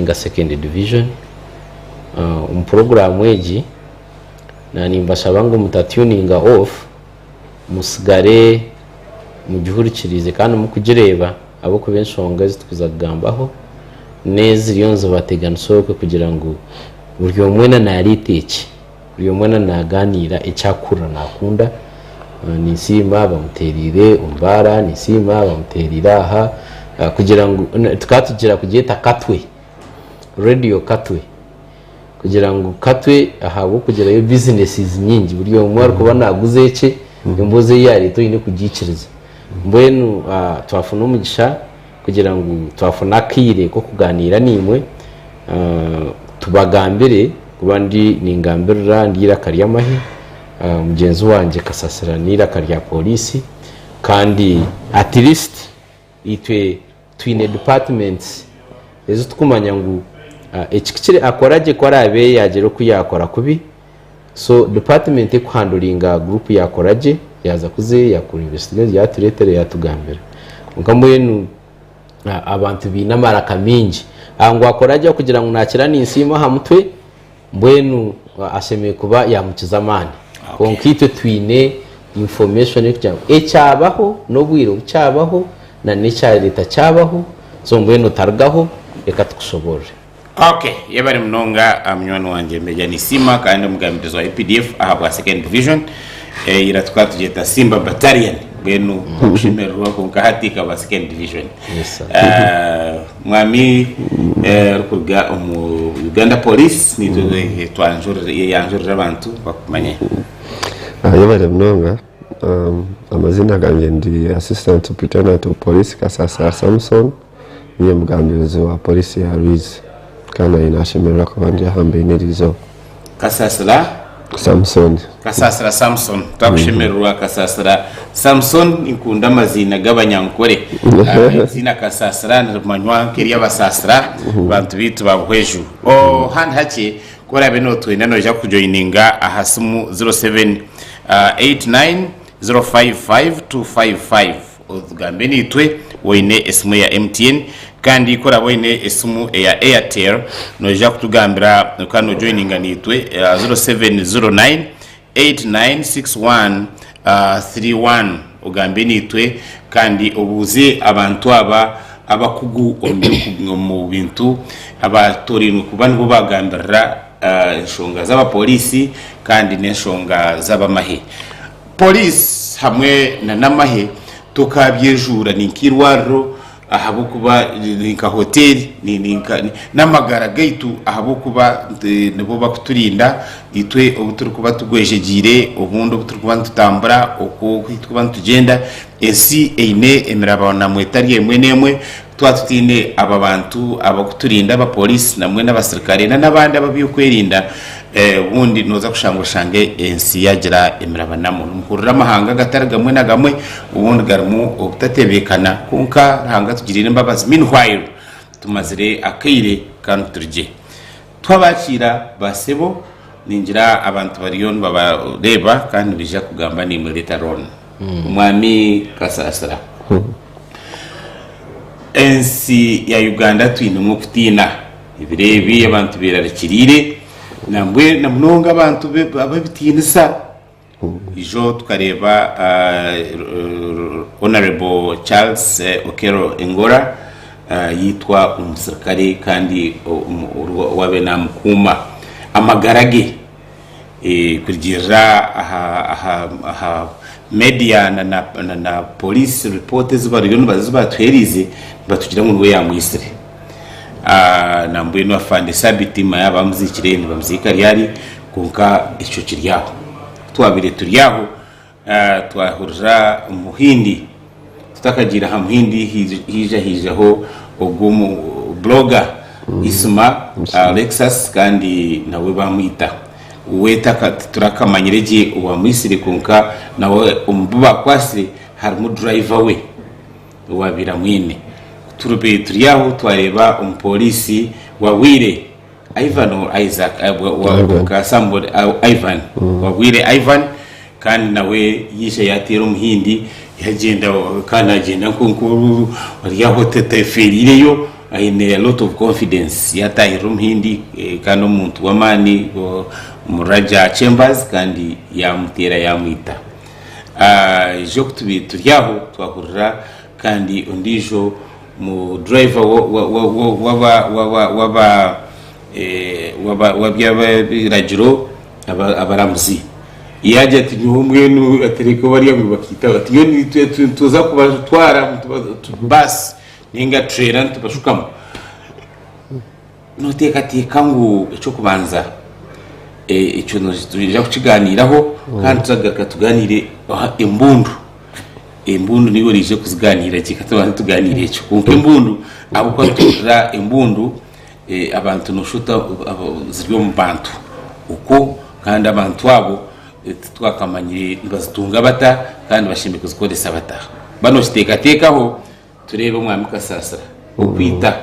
Enga Second Division. Omu puroguraamu egi, nimbashaba ngu muta tuninga off, musigare mugihurikiriize kandi mukugireeba ahabw'okuba enshonga ezi turikuza kugambaho n'eziriyo nizibateganisa okwe kugira ngu buri omwe weena naareeta eki. Buri omwe na nagaaniira eki arikuhurira nakunda, ninsiima bamuteereire omubaara, ninsiima bamuteereire aha, kugira ngu tukaba tugira kugyeta katwe, radio katwe, kugira ngu katwe ahabw'okugirayo businesses nyingi buri omwe arikuba naguza ekye, emboozi ei yareeta oyine kugiikiriza, mbwenu twafuna omugisha. kugira ngu twafuna akaire k'okugaaniira naimwe tubagambire kuba ndi ningambirira ndi eiraka ry'amahe, mugyenzi wangye Kasasira n'eiraka rya pooriisi kandi at least itwe twine departments ezi turikumanya ngu eki kukira akora gye ku araabe yaagira oku yaakora kubi. so department ekuhandulinga group yakoragye yaza kuza eyo yakureeba esinezi yatureetera yatugambira kwonka mbwenu abantu baine amaraka maingi aha ngu akoragye akugira ngu nakira ninsiima aha mutwe mbwenu ashemeire kuba yamukiza amaani kwonka itwe twine information erikugira ngu ekyabaho n'obwire obu kyabaho na n'ekyareta kyabaho so mbwenu otarugaho reka tukushoboorore Ok, yebare munonga munywani wangye Major Nisiima kandi omugambirizi wa updf ahabwa second division. Ira tukaba tugyeta Simba Battalion mbwenu okushemererwa kwonka hati ekaba second division. Mwami orikuruga omu Uganda Police nitwe twanjurira abantu bakumanye. Yebare munonga, amazina gangye ndi Assistant Superintendent of Police Kasasira Samson. Ndi omugambirizi wa Pooriisi ya Rwizi kandi nanye naashemererwa kuba ndi aha mbeine eriizooba. Kasasira. Samusoni. Kasasira Samuson. Twakushemererwa Kasasira Samuson. Ninkunda amaziina g'abanyankore. Eiziina Kasasira nirimanywa nk'ery'abasaasira bantu baitu ba Buhweju. Handi hakye ku oraabe nootwenda noija kutujoininga aha simu 07 89 055 255. Otugambe naitwe oine esimu eya MTN kandi ku oraabe oine esimu eya Airtel noija kutugambira okaba nojoininga naitwe aha ziro seveni ziro naini eyiti naini sikisi wani tiri wani ogambe naitwe kandi obuuze abantu aba abakugu omu bintu abatorainwe kuba nibo bagambirira enshonga z'abapooriisi kandi n'enshonga z'abamahe. Poliisi hamwe na Namahe tokabyejuura ni nk'eirwariro ahabw'okuba ni nka hoteeri n'amagara gaitu ahabw'okuba nibo bakuturinda itwe obu turikuba tugwejegyeire obundi obu turikuba nitutambura okwo oku turikuba nitugyenda ensi eine emirabaananwa etari emwe n'emwe Twaba tutaine abo abantu abarikuturinda, abapooriisi na mbwenu abasirikare nana abandi ab'eby'okwerinda, obundi nooza kushanga oshange ensi yaagira emirabanamu. Nimuhurira amahanga agatari gamwe na gamwe obundi garimu obutatebeekana. Kwonka Ruhanga atugiriire embabazi, meanwhile tumazire akaire ka niturigye. Twabakiira ba sebo, ningira abantu bariyo nibabareeba kandi nibaija kugamba naimwe later on. Mwami Kasaasira, ensi ya Uganda twinemu okutiina. Ebiro ebi abantu beerarikiriire nambwenu na munonga abantu ab'ebitiinisa. Burijo tukareeba Honourable Charles Okello Engola yaitwa omusirikare kandi owaabaire naamukuuma amagara ge. Kurugiirira aha meediya na pooriisi ripooti ezi bariyo nibatuheereza nibatugira ngu niwe yaamwitsire. nambwenu afande sabiti manya bamuziikire nibamuziika ryari kwonka ekyo kiri aho ku twabaire turi aho twahurira omuhindi tutakagiire aha muhindi haija haijaho ogwo omu buroga isima lexus kandi nawe bamwita we titurakamanyire gye owamwitsire kwonka nawe omu bu baakwatsire harimu durayiva we Waabaire amwine. Turibaire turi aho twareeba omupooriisi wa bwire Ivan or Isaac, ah, wa- wa- Ivan. ka somebody, ah, Ivan wa bwire Ivan kandi nawe yaija yateera omuhindi yagyenda kandi nagyenda nko- nkoru ori aho ta- tayefeeriireyo aine a lot of confidence yatahirira omuhindi eh, kandi omuntu w'amaani o- omu Raja Chambers kandi yamuteera yamwita aije okutubiire turi aho twahurira kandi ondiijo mu driver w'eby'abiragyiro abaramuzi yaagira ati nyowe mbwenu atereeka bariya ngu bakaitaho ati nyowe nituza kubatwara baasi ninga tureera nitubashukamu Nooteekateeka ngu eky'okubanza ekyo nitwija kukigaaniiraho kandi turagaruka tugaaniire aha embundu. Embundu niiwe oraije kuzigaaniira gye, ka tubanze tugaaniire ekyo. Kwonka embundu ahabw'okuba nituhurira embundu eh, abantu noosha ota abo- ziri omu bantu okwo kandi abantu abo eh, titwakamanyire nibazitunga bata kandi bashemeriire kuzikoresa bata. Waaba nookiteekateekaho. Tureebe Omwami Kasaasira okwita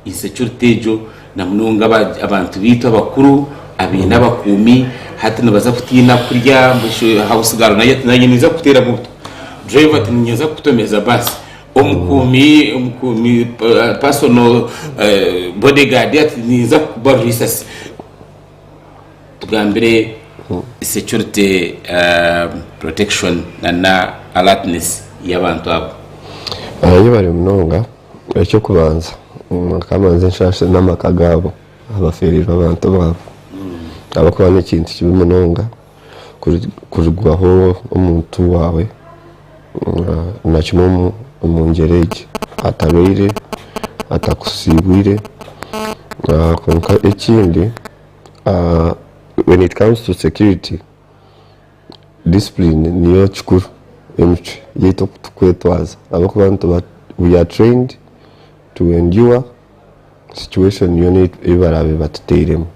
insecurity egyo na munonga abantu beitu abakuru abaine abakuumi hati nibaza kutiina kurya house girl naija naija naija kukuteeramu buta driver ati ninyija nza kukutomeza bus omukuumi omukuumi personal bodyguard ati ninyija kukubaruha isasi. tugambire security protection na alertness yabantu abo. Yebare munonga ekyokubanza reka mbanze nshashire namaka gaabo abaferirwe abantu baabo ahabwokuba nekintu kibi munonga kurigwaho omuntu waawe. Nga na kimwe omu ngyero egi atabaire atakusiibwire. Kwonka ekindi when it comes to security, discipline niyo kikuru. Emicwe yaitu oku turi kwetwaza ahabw'okuba nituba we are trained to endure. situation yoona ei baraabe batuteiremu.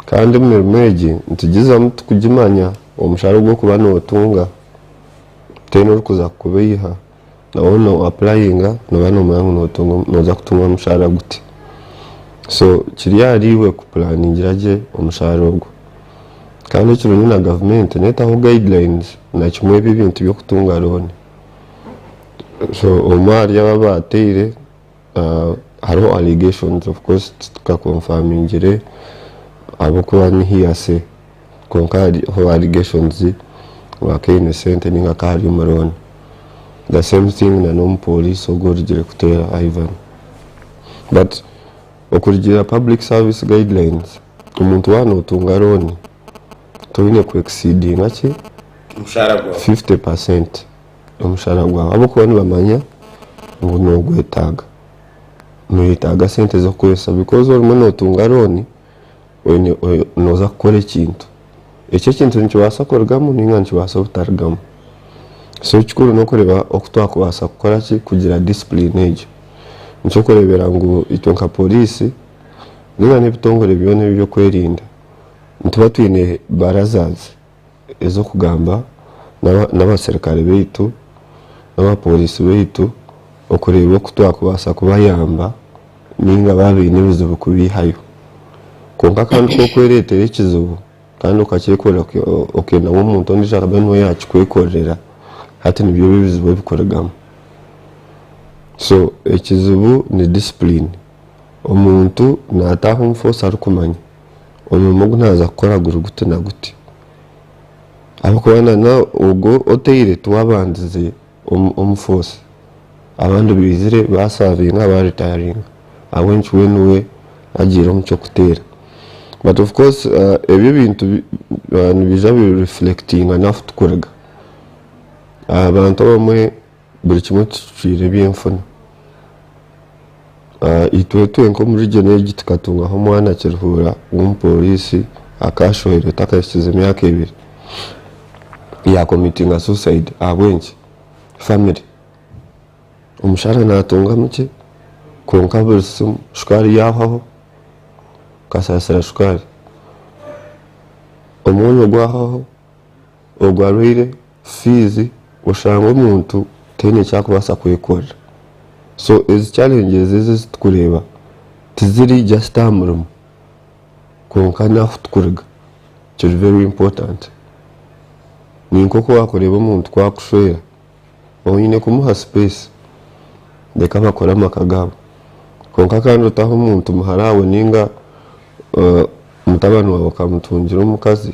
Kandi emirimo egi nitugizamu tukugimanya omushara ogu orikuba notunga then orikuza kukuba eiha na waaba no applyinga noba nomanya ngu notunga noza kutunga omushara guti. So kiri ahari iwe ku planingira gye omushara ogu. Kandi ekirungi na gavumenti netaho guidelines na kimwe ebi ebintu byokutunga loan. So omwe ahari abo abateire. Hariho allegations of course titukakonfamingire ahabw'okuba ni hearsay kwonka hariho allegations ngu akaba aine sente nainga akaba ari omu loan. The same thing na n'omupooriisi ogu orugire kuteera Ivan. But okurugiirira public service guidelines, omuntu waaba nootunga loan toine ku exceedinga ki fifty percent. Omushara gwawe ahabw'okuba nibamanya ngu nogwetaaga. Noyetaaga sente z'okukoresa bikozi orimu notunga rooni noza kukora ekintu. Ekyo ekintu nikibaasa kurugamu ninga nikibaasa obutarugamu. So ekikuru nokureeba oku twakubaasa kukora ki kugira discipline egyo. Nikyo okureebera ngu itwe nka poriisi ninga n'ebitongore byona ebyeby'okwerinda nituba twine barazaazi ez'okugamba n'abaserukare baitu n'abapooriisi baitu okureeba oku twakubaasa kubayamba nainga baaba baine ebizibu kubeihayo. Kwonka kandi ku orikwereetera ekizibu kandi okakyekorera okenda ngu omuntu ondiijo araabe niwe yaakikwekorera, hati nibyo ebi ebizibu ebirikurugamu. So ekizibu ni disipuriini, omuntu naataaha omu foosi arikumanya. omurimo ogu naaza kukora guri guti na guti. Ahabw'okuba na n'ogwo otaire tiwaabandize omu omu foosi, abandi baizire baasaavinga baaritayaringa ahabw'enki we niwe agiire omu ky'okuteera. Bati of course ebyo ebintu nibiija bi reflectinga n'ahu turikuruga. Abantu abamwe buri kimwe kicwire ebyenfuna. Itwetwe nk'omu region egi tukatungaho omwana Kiruhura w'omuporisi akashohirwe takahikize myaka ebiri ya committinga suicide ahabw'enki? Family omushaara natunga mukye kwonka buri simu shukaari yahwaho kasasira shukaari omwonyo gwahwaho. Ogwo arwaire fiizi oshanga omuntu taine eki arikubaasa kwekorera so ezi challenges ezi ezitikureeba tiziri just aha murimo kwonka n'ahu turikuruga kiri very important. Ni nk'oku waakureeba omuntu ku arikushwera oine kumuha space reka bakore amaka gaabo kwonka kandi otahe omuntu muhara waawe nainga mutabani waawe okamutungira omukazi.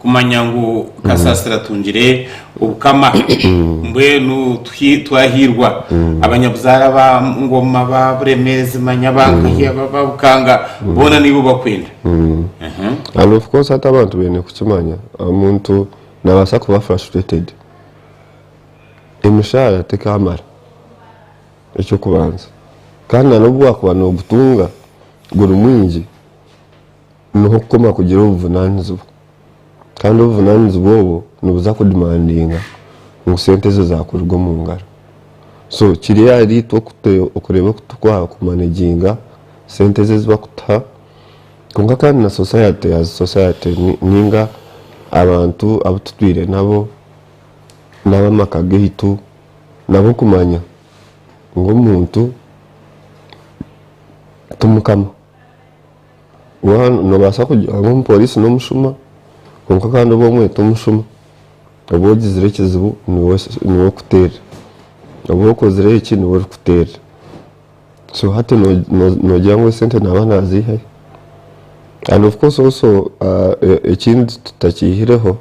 Kumanya ngu kasasiro atungire obukama mbwenu twahiirwa abanyabuzaare aba Ngoma, aba Buremeezi manya aba Nkahi, aba ba Bukanga boona niiwe obakwenda. And of course hati abantu baine kukimanya omuntu nabaasa kuba frustrated emishaara tekaamara eky'okubanza kandi na n'obu waakuba nogutunga guri mwingi, Niho okukoma kugira obuvunanizibwa Kandi obuvunanizibwa obwo nibuza ku demandinga ngu sente ezo zakuruga omu ngaro so kiri ahari itwe okureba oku tukwaha ku managinga sente ezo ezi bakutuha kwonka Kandi na society as society ninga abantu abu tutwire nabo nabamaka gaitu nabo kumanya ngu omuntu ti mukama. Waaba noobaasa kugira ngu omupooriisi n'omushuma kwonka kandi oba omwete omushuma, oba ogizire ekizibu niwe okuteerire, oba okozire eki niwe orikuteerire. So hati noogira ngu esente naaba naaziihayo? And of course also ekindi tutakiihireho,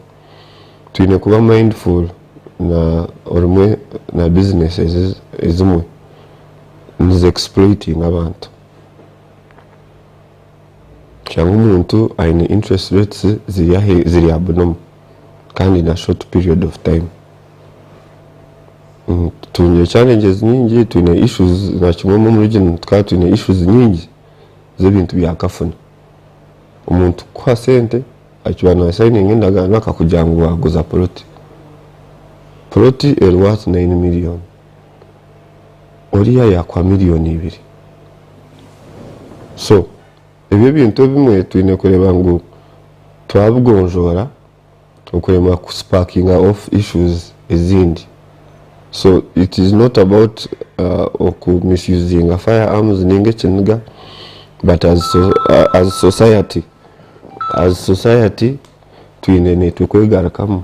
twine kuba mindful na business ezimwe nizi exploitinga abantu. Shaba omuntu aine interest rates ziri aha munomu kandi in a short period of time. Twine challenges nyingi, twine issues nakimwe omu region tukaba twine issues nyingi z'ebintu bya kafuna. Omuntu kukuha sente akiba na sayininga endagaano akakugira ngu waguza poloti. Poloti eri worth nine million. oriya yakwa million ibiri so ebyo ebintu ebimwe twine kureba ngu twabigonjora okuremwa ku spakinga off issues ezindi so it is not about oku misusinga fire arms ninga ekiniga but as society as society twine nitwe kwegarukamu.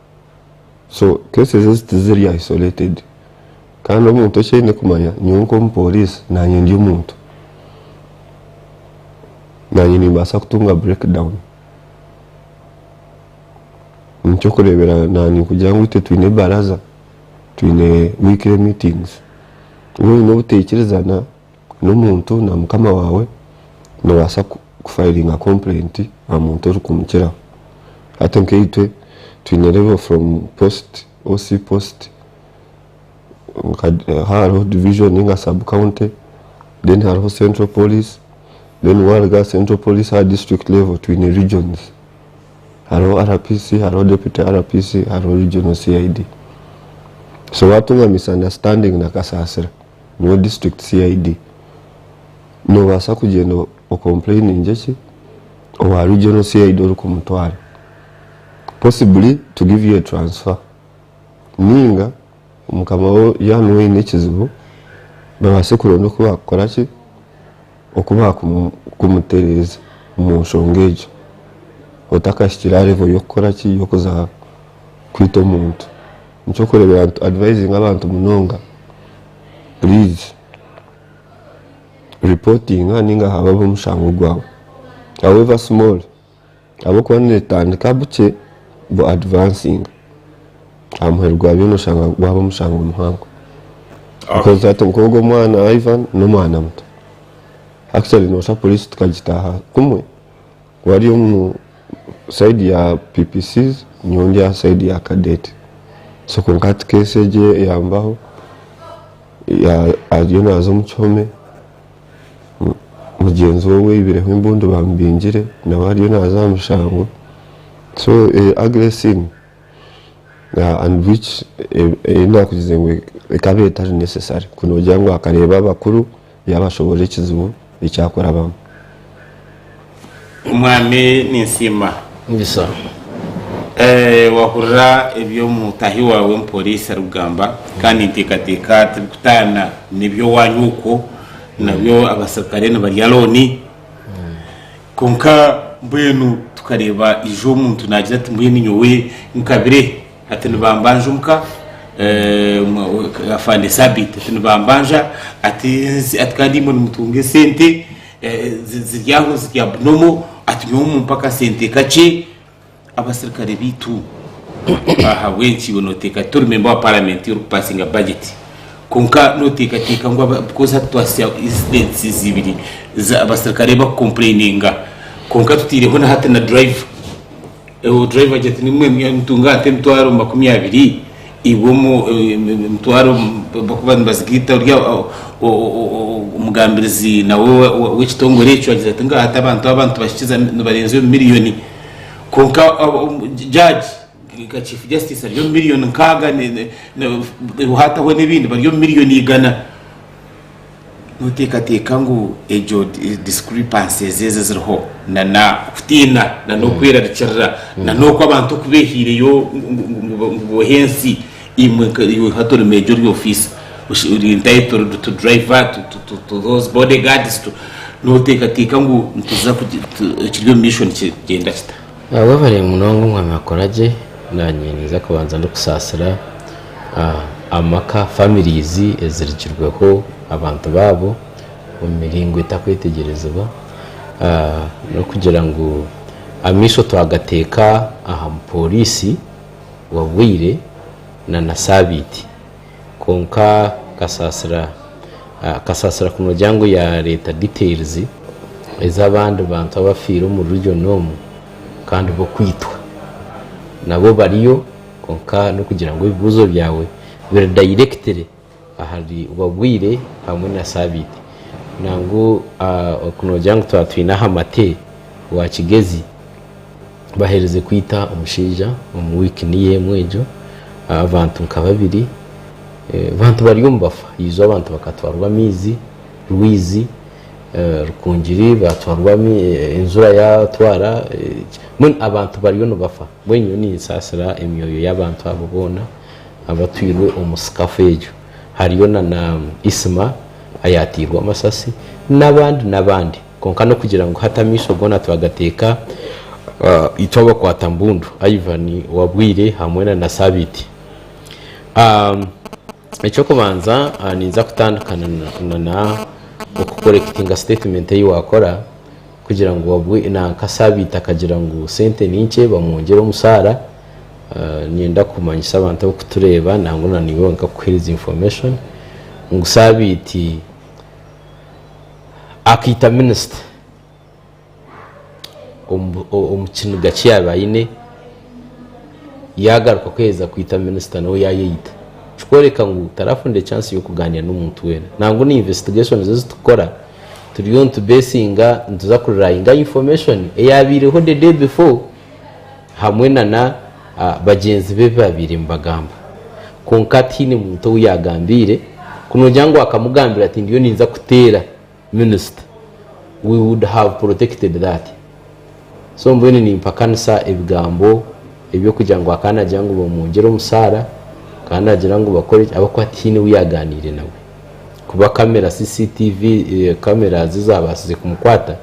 So cases ezi tiziri isolated kandi omuntu eki aine kumanya nyowe nkomu police nanye ndi omuntu nanye nimbaasa kutunga break down nekyokureeberaho nanye ninkugira ngu itwe twine baraza twine weekly meetings waaba oyine obuteekirizana N'omuntu na mukama waawe noobaasa kufayiringa kompurenti aha muntu orikumukiraho. Hati nk'eitwe twine revo from post, OC post, hariho divijoni nainga sub county, then hariho central police, then waaruga aha central police aha disiturikiti revo twine rigyonizi. Hariho RPC, hariho deputy RPC, hariho rigyoni CID. So waatunga misandasitandingi na Kasaasira Nyowe district CID nobasa kugyenda ocomplainingye ki owa regional CID orikumutwara possibly to give you a transfer ninga mukama wo yaba nuwe oyine ekizibu babase kuronda okubakukora ki okubakumutereza omunshonga egyo otakahikire aha level yokukora ki yokuza kwita omuntu. Nekyokureberaho ntu advisinga abantu munonga please reportinga ninga habaho omushango gwawe however small ahabwokuba netandika bukye bu advansinga ahamuheru gwa byona oshanga gwaba omushango muhango because hati nkogu omwana Ivan nomwana muto actually nosha police tukagitaha kumwe. Ku ari omu side ya PPCs nyowe ndi aha side ya Cadet. So kwonka hati case egi eyambaho ariyo naaza omu kihome mugyenzi we owaibireho embundu bamubingire nawe ariyo naaza aha mushango. So eri ugly scene and which ei naakugize ngu ekaba etari necessary ku noogira ngu akareeba abakuru. Yaabashoboorora ekizibu ekyakurabamu. Omwami ninsiima wahurira ebi omutahi waawe omupooriisi arikugamba kandi ninteekateeka tirikutaana n'eby'owaanyu okwo nabyo abasirikare nibarya looni kwonka mbwenu tukareeba ijo omuntu naagira ati mbwenu nyowe nkabire. Ati nibambanja omuka afande Sabiiti ati nibambanja ati ati kandi imwe nimutunga esente ziri aho ziri abnormal ati nyowe mumpe akasente kakye abasirikare baitu ahabw'enki iwe noteeka tori memba wa paramenti orikupasinga bajeti kwonka noteekateeka ngu because hati twahitsya incidents ibiri za abasirikare bakukompureyininga kwonka tuteireho na hati na durayiva. Ewo driver agira ati nimwe nimutunga ate emitwaro makumi abiri iwe omu emitwaro bakuba nibazigaita ori omugambirizi nawe w'ekitongore ekyo agira ati ngaha ati abantu aba nitubahikiza nibarenze omu miliyoni kwonka judge nka chief justice ari omu miliyoni nkaaga hataho n'ebindi bari omu miliyoni igana. Noteekateeka ngu egyo discrepancies ezi eziriho na okutiina na n'okwerarikirira na n'oku abantu oku beehaireyo ngu bohe ensi, imwe nka iwe nka tori meeja ori ofiisa, ori entitled to driver, to those bodyguards, to, noteekateeka ngu nituza, ekiri omu maisho nikigyenda kita? Webare munonga omwami akora gye nanye ninza kubanza ndikusaasira amaka families ezirigirweho abantu baabo omu miringo etakwetegyerezibwa n'okugira ngu amaisho twagateeka aha mupooriisi wa Bwire na na saabiiti. Kwonka Kasasira akasasira kunogira ngu yareta details ezabandi bantu abafiire omuri region omu kandi bokwitwa nabo bariyo kwonka nokugira ngu ebibuzo byawe biri directly ahari Wabwire hamwe na Sabiiti nangu kunogira ngu twaba twine aha mate wa Kigezi. baherize kwita omushaija omu week niyo emwe egyo abantu nka babiri abantu bari omu bafa ijo abantu bakatwarwa amaizi rwizi rukungiri batwarwa enjura yatwara mbwenu abantu bariyo nibafa mbwenu nyowe ninsasira emyoyo y'abantu abo boona abatwirwe omu sikafu egyo hariyo na isima ayatairwe amasasi n'abandi n'abandi. Kwonka n'okugira ngu hati amaisho goona twagateeka itwe abakwata mbundu Ivan Wabwire hamwe na na Sabiiti. Eky'okubanza ninza kutandika na na okukorekitinga sitetimenti ei waakora kugira ngu nanka Sabiiti akagira ngu sente ni nkye bamwongyere omushaara. Niinyenda kumanyisa abantu abarikutureeba nangwa na naiwe wenka kukuheereza information ngu Sabiiti, akaita minisita omu kiniga ki yaabaire aine, yaagaruka kuheza kwita minisita nawe yaayeita. Ekirikworeka ngu taraafuna chansi y'okugaaniira n'omuntu weena. Nangwa na investigation ezi turikukora turiyo nituza kurinda information eyabaireho the day before. hamwe na na bagyenzi be baabaire nibagamba. Kwonka tihaine muntu ou yaagambiire, ku noogira ngu akamugambira ati ndiyo ninza kuteera minisita, we would have protected that. So mbwenu nimpakanisa ebigambo eby'okugira ngu akaba naagira ngu bamungyire omushaara, akaba naagira ngu bakore ki, ahabw'okuba tihaine ou yaagaaniire nawe. Kuba kamera, CCTV camera, zo zaabaasize kumukwata,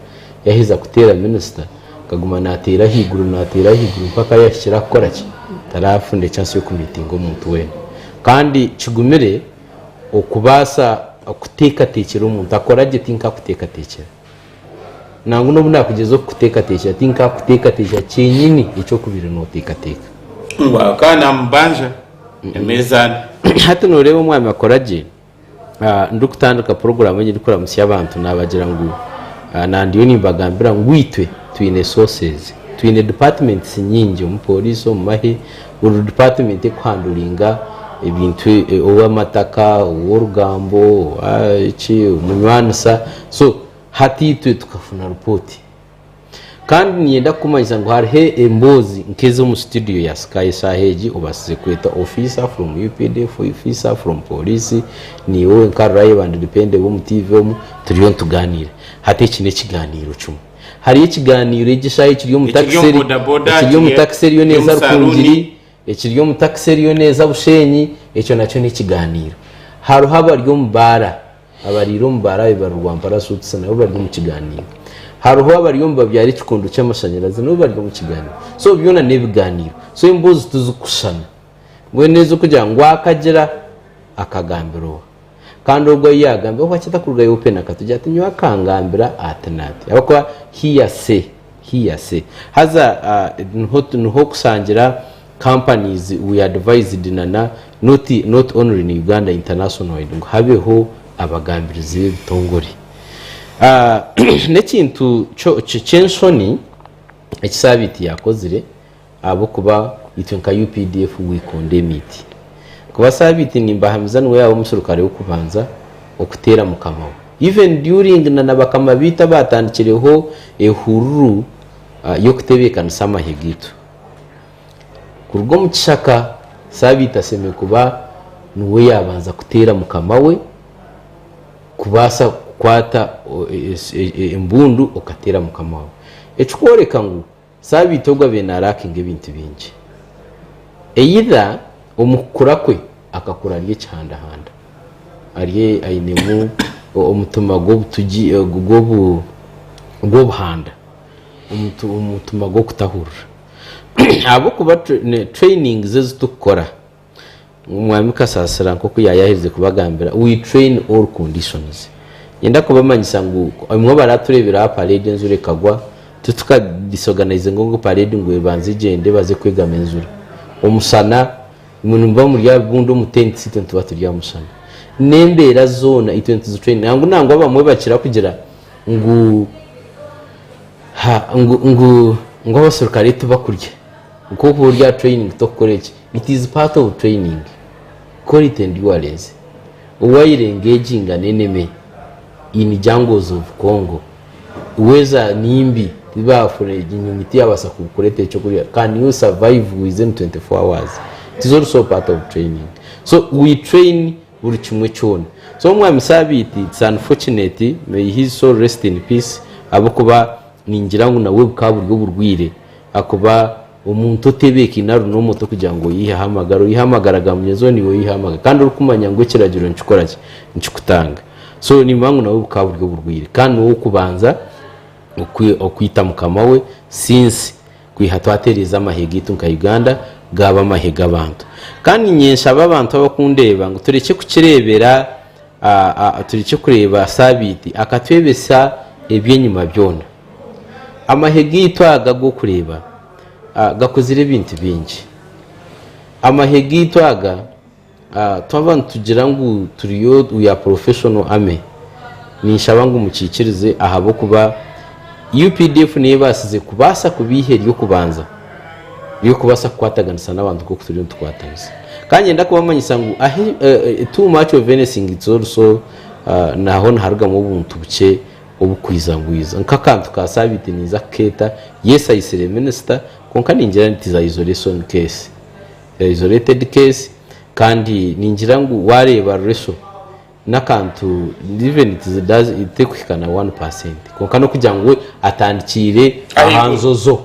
yaaheza kuteera minisita. akaguma nateera ahaiguru nateera ahaiguru mpaka yahikire aha kukora ki tarafuna chance yokumitinga omuntu weena kandi kigumire okubaasa kuteekateekyera omuntu akora gye tinka akuteekateekyera nangwa nobu nakugyezaho kukuteekateekyera tinka akuteekateekyera kyenyini eki okubaire noteekateeka ngu akaa namubanja emeeza hati noreeba omwami akora gye ndikutandika puroguraamu ei ndikuramutsya abantu naabagira ngu nandiyo nimbagambira ngu itwe twine sources twine departments nyingi omu pooriisi omu mahe buri department ekuhanduringa ebintu e- ow'amataka ow'orugambo owa- eki omunywanisa so hati itwe tukafuna ripooti Kandi niinyenda kukumanyisa ngu hariho emboozi nk'ezi omu situdiyo ya Sky eshaaha egi, obaasize kweta ofiisa from updf, ofiisa from pooriisi, niiwe wenka reliable and dependable omu tiivi omu, turiyo nitugaaniira. Hati eki n'ekigaaniiro kimwe. Hariyo ekigaaniiro egi eshaaha ekiri omu Ekiri takisi omu eri- bodaboda, ekiri omu ekiri- takisi eriyo ekiri neeza omu saluuni. Rukungiri, ekiri omu takisi eriyo neeza Busheenyi, ekyo nakyo n'ekigaaniiro. Hariho abari omu baara. Abariire omu baarabe bari Rwampara Suits nabo bari omu kigaaniiro. Hariho abari omu babyaara ekikondo ky'amashanyarazi nabo bari omu kigaaniiro. So byona n'ebigaaniiro. So emboozi tizikushushana. Mbwenu ez'okugira ngu akagira akagambira oha? Kandi ogwo ou yaagambira oha ki atakurugayo open akatogi ati nyowe akangambira ati naati? Ahabw'okuba hearsay. Hear say. Haza niho niho okusangira companies we advised na na not not only in Uganda international wide ngu habeho abagambirizi b'ebitongore. Ah n'ekintu kyo ky'enshoni eki Sabiiti yakozire. Ahabw'okuba itwe nka updf wiika ondeeme iti, Kuba Sabiiti nimbahamiza niwe yaawe omuserukare w'okubanza okuteera mukama we. Even during na nabakama baitu abaatandikireho ehururu y'okutebeekanisa amahe gaitu kuruga omu kishaka, Sabiiti asemeriire kuba niwe yaabanza kuteera mukama we kubaasa kukwata embundu okateera mukama we. Ekikworeka ngu Sabiiti ogu abaire naaraakinga ebintu bingi. Either omu kukura kwe akakura ari ekihandahanda, ari ainemu omutima gw'obutugi gw'obuhanda, omutima gw'okutahurira ahabw'okuba training ze ezi turikukora Omwami Kasasira nk'oku yaayahirize kubagambira, we train all conditions. Niinyenda kubamanyisa ngu obumwe baraatureebire aha parade enjura ekagwa, tituka disorganizinga ngu parade ngu ebanze egyende baze kwegama enjura. Omushana, imwe nimuba muri aha bibuunda omu tents, itwe nituba turi aha mushana. N'embeera zoona itwe nituzitraininga. Nangwa nangwa abamwe bakira kugira ngu ha ngu ngu abaserukare tibakurya. Nk'oku ori aha training tokukora eki. It is part of training, call it endurance, while engaging an enemy in jungles of Congo, weather ni mbi tibafuna enyonyi tiyabasa kukuretera ekyokurya, can you survive within 24 hours? It is also part of training. So we train buri kimwe kyona. So omwami Sabiiti it's unfortunate, may his soul rest in peace, ahabwokuba ningira ngu nabwe bukaba buri oburwire ahakuba Omuntu otebeekaine arunwa omuto kugira ngu oyiheho amagara, oyihe amagara ga munywenzi we, naiwe oyiheho amagara. Kandi orikumanya ngu ekiragiro nikikora ki? Nikikutanga. So nimba ngu nabwo bukaba buri oburwaire. Kandi niwe w'okubanza okwita mukama we since kwiha twatereeza amahe gaitu nka Uganda gaaba amahe g'abantu. Kandi niinye nshaba abantu abakundeeba ngu turekye kukireebera, turekye kureeba saabiiti akatwebesa eby'enyima byona. Amahe gaitu aga g'okureeba gakuzire ebintu bingi. Amahe gaitu aga twaba nitugira ngu turiyo we are professional army, ninshaba ngu mukiikirize ahabw'okuba updf niyo ebaasize kubaasa kuba eihe ry'okubanza ry'okubaasa kukwataganisa n'abantu nk'oku turiyo nitukwatanisa. Ka ngyenda kubamanyisa ngu too much of anything it's also naho niharugamu obuntu bukye Obukwija bwija nk'akantu ka saabiiti niija kukeeta. Yes I sire minister kwonka ningira ngu tiza isolation case. Eri isolated case kandi ningira ngu waareeba Rureshwa n'akantu even it is does terikuhika na one percent kwonka n'okugira ngu we atandikiire aha njojo.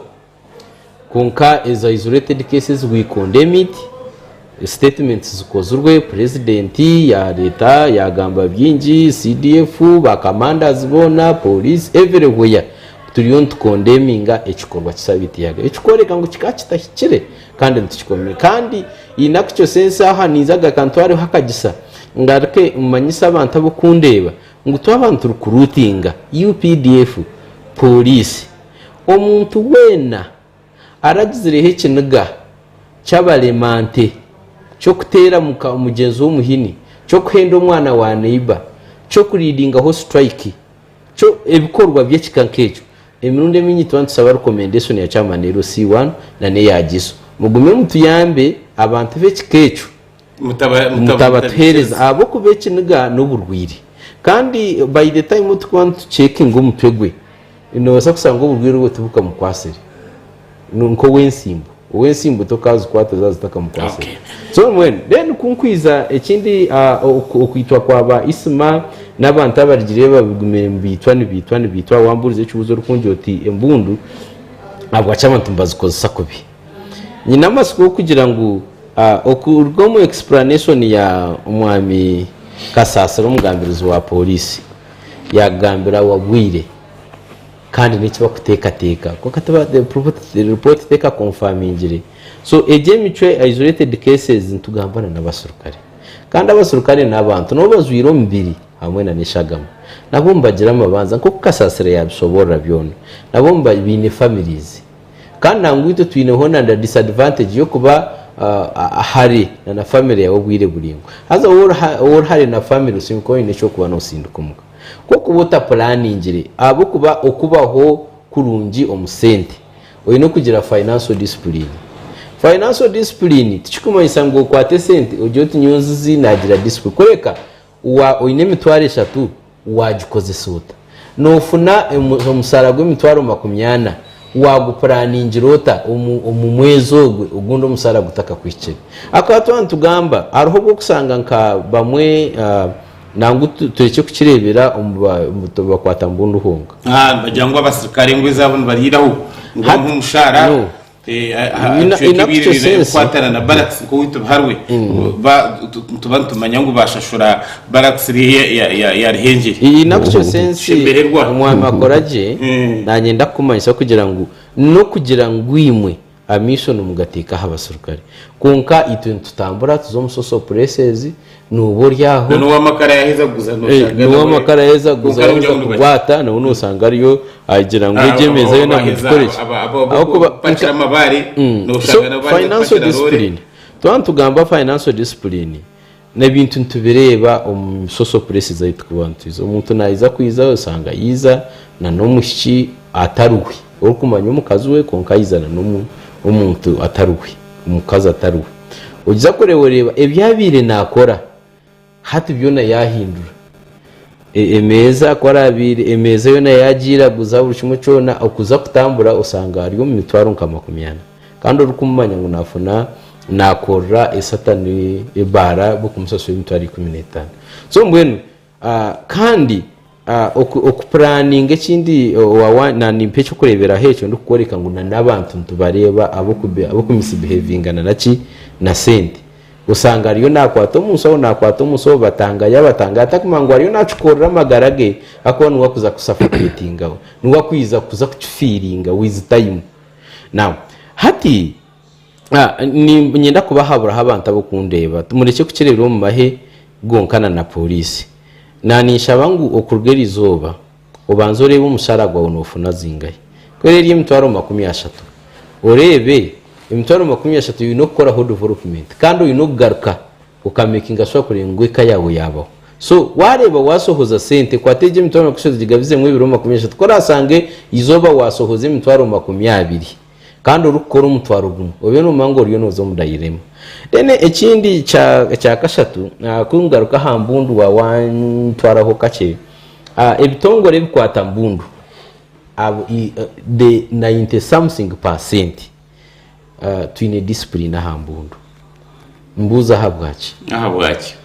Kwonka ezo isolated cases we condemn it, statements zikozirwe, president yareeta yagamba byingi, CDF, ba commanders boona, police, everywhere turiyo nitukondeminga ekikorwa ki Sabiiti Yagera ekikworeka ngu kikaba kitahikire kandi nitukikomire kandi in actual sense aha ninza agaruka ntwareho akagisa ngaruke manyise abantu ab'okundeeba ngu twaba nituri kuruutinga updf, police, Omuntu weena aragizireho ekiniga ky'abarema nte, ky'okuteera muka mugyenzi we omuhini, ky'okuhenda omwana wa neiba, ky'okuriidingaho siturayiki, kyo ebikorwa by'ekika nk'ekyo, emirundi emingi nituba nitusaba rikomendeshoni ya Kyama Nero C1 na n'eya Giso. Mugume mutuyambe abantu b'ekika ekyo. Mutabatuheereza ahabw'okuba ekiniga n'oburwaire. Kandi by the time turikuba nitucekinga omutwe gwe, noobaasa kushanga oburwaire obwo tibukamukwatsire. Nk'ow'entsimbu, ow'entsimbu tokaazikwata zaaba zitakamukwatsire. So mbwenu then ku nkwiza ekindi okwitwa kwa ba Isma n'abantu abarigirire babigumire nibaitwa nibaitwa nibaitwa, waambuuriza ekibuuzo orikungira oti embundu ahabwaki abantu nibazikozesa kubi? Nyine amatsiko g'okugira ngu okuruga omu explanation ya omwami Kasasira omugambirizi wa Police yakugambira awa bwire kandi n'eki bakutekateka kwonka tiba the report teka confirmingire so egi emicwe isolated cases nitugamba na n'abaserukare kandi abaserukare n'abantu nabo bazwire omubiri hamwe na n'eshagama nabo nibagira amabanza nk'oku Kasasira yabisoborora byona nabo baine families. Kandi nangwa itwe twineho na na disadvantage y'okuba ah, hare na na family yawe obwire buraingwa. Haza wowe ori ha- ori hare na family osingwa kuba oine eky'okuba noosindika omuka. Kw'okuba otapulaaningire ahabw'okuba okubaho kurungi omu sente oine kugira financial discipline. Financial discipline tikikumanyisa ngu okwate esente ogire oti nyowe nzizi naagira discipline. Kureka! Wa oine emitwaro eshatu, waagikozesa ota? Noofuna omusaara gw'emitwaro makumi ana, waagupuraningira ota omu mwezi ogwe ogundi omusaara gutakakuhikire? Ahakuba twaba nitugamba, hariho obu orikushanga nka bamwe, nangwa turekye kukireebera omu bakwata mbundu honka. Nibagira ngu abasirikare engoye zaabo nibariraho, nibabaha omushaara. Kukwatana na Barracks nk'owaitu Biharwe, nituba nitumanya ngu bashashura Barracks ya Ruhengeri. Kushemererwa. Omwami akora gye, naanye ndakukumanyisa kugira ngu n'okugira ngu imwe amaisho nimugateeka aha baserukare, kwonka itwe nitutambura tuza omu Social Places, Nooba ori aho, Noneho ow'amakara yaaheza kuguza nooshanga nawe. N'ow'amakara yaaheza kuguza yaaheza kukwata, nabwo nooshanga ariyo agira ngu egi emeeza yoona mugikore ki? Ahabw'okuba bakira amabaare nooshanga nabo baaheza kupakira roore. Twaba nitugamba financial discipline, n'ebintu nitubireeba omu social places ahu turikuba nitwiija. Omuntu naija kwija oshanga yaija n'omwishiki atari we, orikumanya omukazi we kwonka yaija n'omuntu atari we. omukazi atari we. Ogiza kureebareeba ebi yaabaire naakora, hati byona yaahindura. E- Emeeza ku araabaire, emeeza yoona yaagiiraguza, buri kimwe kyona, okuza kutambura osanga ari omu mitwaro nka makumi ana. Kandi orikumumanya ngu naafuna, naakorera esatani ebaara bw'okumusasurira emitwaro ikumi n'etaano. So mbwenu, Kandi okupuraninga ekindi na nimpa ekyokureberaho ekyo ndikukworeka ngu na nabantu nitubareeba abokumusibihevinga na naki na sente osanga ariyo nakwata omunshaho nakwata omunshaho batanga yabatanga atakumanya ngu ariyo nakikorera amagara ge ahakuba niwe akuza kusafoketingawe niwe akuza kukifiringa with time now hati Ah, ni- ninyenda kubahaburaho abantu ab'okundeeba. Murekye kukireebera omu mahe gonkana na pooriisi. Na ninshaba ngu okuruga eri izooba, obanze oreebe omushaara gwawe noofuna zingahi. Ku eri eri emitwaro makumi ashatu, oreebe emitwaro makumi ashatu oine okukoraho development kandi oine okugaruka okameekinga shuwa kureeba ngu eka yaawe yaabaho. So waareeba waashohoza sente, kwata egyo emitwaro makumi ashatu gigabizeemu ebiro makumi ashatu, ku oraasange izooba waashohoza emitwaro makumi abiri. Kandi orikukora omutwaro gumwe obe nomanya ngu oriyo noza omu dairema. Then ekindi ekya kashatu kungaruka aha mbundu wa wantwaraho kakye ebitongore ebikwata mbundu the ninety something percent twine discipline aha mbundu. Mbuuza ahabwaki? Ahabwaki?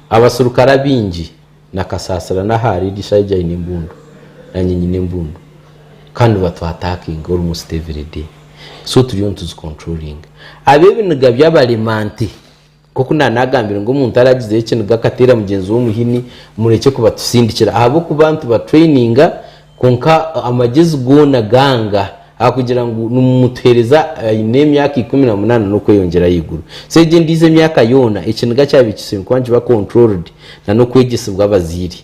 Abaserukare abaingi Na Kasaasira n'aha ari Gishaaija aine embundu, naanye nyine embundu kandi nibatwataakinga almost everyday so turiyo nituzicontrollinga. Abe ebiniga byabarema nte? Nk'oku naaba naagambire ngu omuntu araagizeyo ekiniga akateera mugyenzi we omuhini, murekye kubatusindikira ahabw'okuba nitubatraininga Kwonka amagezi goona ganga, ahakugira ngu nimutuheereza aine emyaka ikumi na munaana n'okweyongyera ahaiguru. So egyo endiijo emyaka yoona, ekiniga kyabikiisirwe kuba nikiba controlled na n'okwegyesibwa abazaire.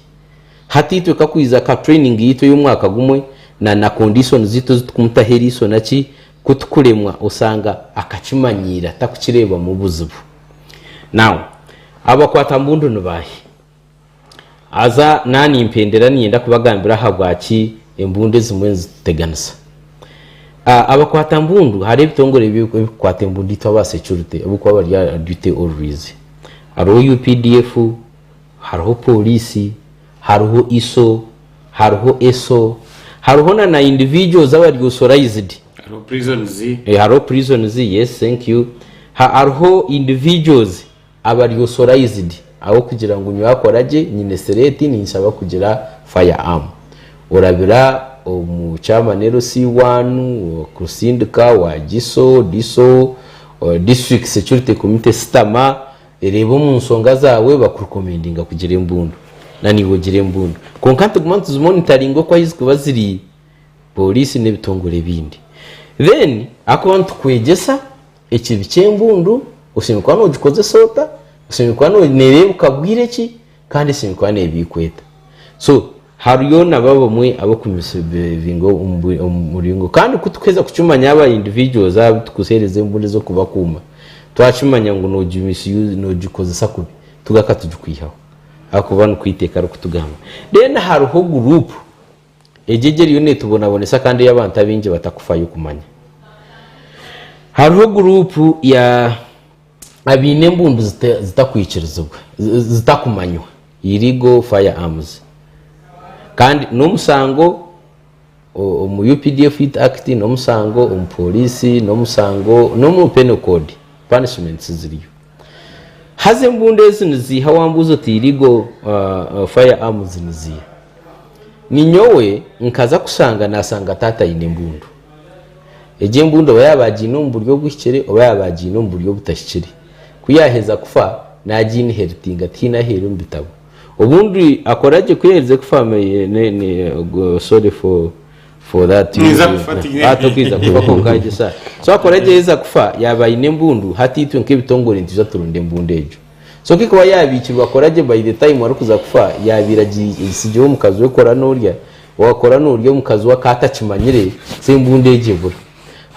Hati itwe kakwija ka training yaitu ey'omwaka gumwe na na conditions zaitu ezi tukumutaho eriiso naki, ku tukuremwa osanga akakimanyiira takukireebamu buzibu. Now, abakwata mbundu ni baahi? Haza nanye nimpendera niinyenda kubagambira ahabwaki embundu ezimwe nizituteganisa. A Abakwata mbundu, hariho ebitongore ebi ebikukwata embundu itwe aba securite abu kuba bari aha duty always. Hariho updf, hariho Poliisi, hariho iso, hariho eso, hariho na na individuals abari authorized, Hariho prisons. e hariho prisons, yes thank you, ha hariho individuals Aba ari authorized ahabw'okugira ngu nyowe akora gye nyine sereti ninshaba kugira fire arm. Orabira omu chairman LC one, okusindika, owa GISO, DISO, district security committee sitama ereebe omu nshonga zaawe baku recomendinga kugira embundu na naiwe ogire embundu. Kwonka nituguma nituzi monitoringa oku ahi zikuba ziri police n'ebitongore ebindi. Then ahakuba nitukwegyesa Ekibi ky'embundu oshemereire kuba noogikozesa ota, oshemereire kuba no- neereebuka bwire ki, kandi eshemereire kuba neeba ei kweta. So hariyo nabo abamwe ab'okumisibhevinga omu bwi- omu muringo. Kandi ku turikuheza kukimanya aba individuals abu turikuheereza embundu ez'okubakuuma, twakimanya ngu noogi misuse noogikozesa kubi, tugaruka tugikwihaho ahakuba nikwo eiteeka ririkutugamba. Then hariho guruupu. Egyegi eriyo neetubonabonesa kandi ei abantu abaingi batakufayo kumanya. Hariho guruupu ya abaine embundu zitakwikirizibwa, zitakumanywa, Illegal Firearms, kandi n'omusango omu updf Youth Act, n'omusango omu pooriisi, n'omusango n'omu Penal Code, punishments ziriyo. Haza embundu ezi niziiha wambuuza oti irigo fire arms niziiha. Ninyowe nkaza kushanga nasanga taata aine embundu. Egyo embundu oba yaba agiine omu buryo obuhikire oba yaba agiine omu buryo obutahikire. Ku yaheza kufa nagiinheritinga tihaine ahu eri omu bitabo. Obundi akora gye ku yaherize kufa sorry for for that you Niza kufa ati- hati okiija kufa kwonka egyo sa so akora egyo yaiza kufa yaaba aine embundu hati itwe nk'ebitongore nitwija turunda embundu egyo so ku ikuba yaabiikirwe akora gye by the time arikuza kufa yaabaire agi- agitsigire omukazi we kora n'orya waakora n'orya omukazi we akaba atakimanyire so embundu egyo ebura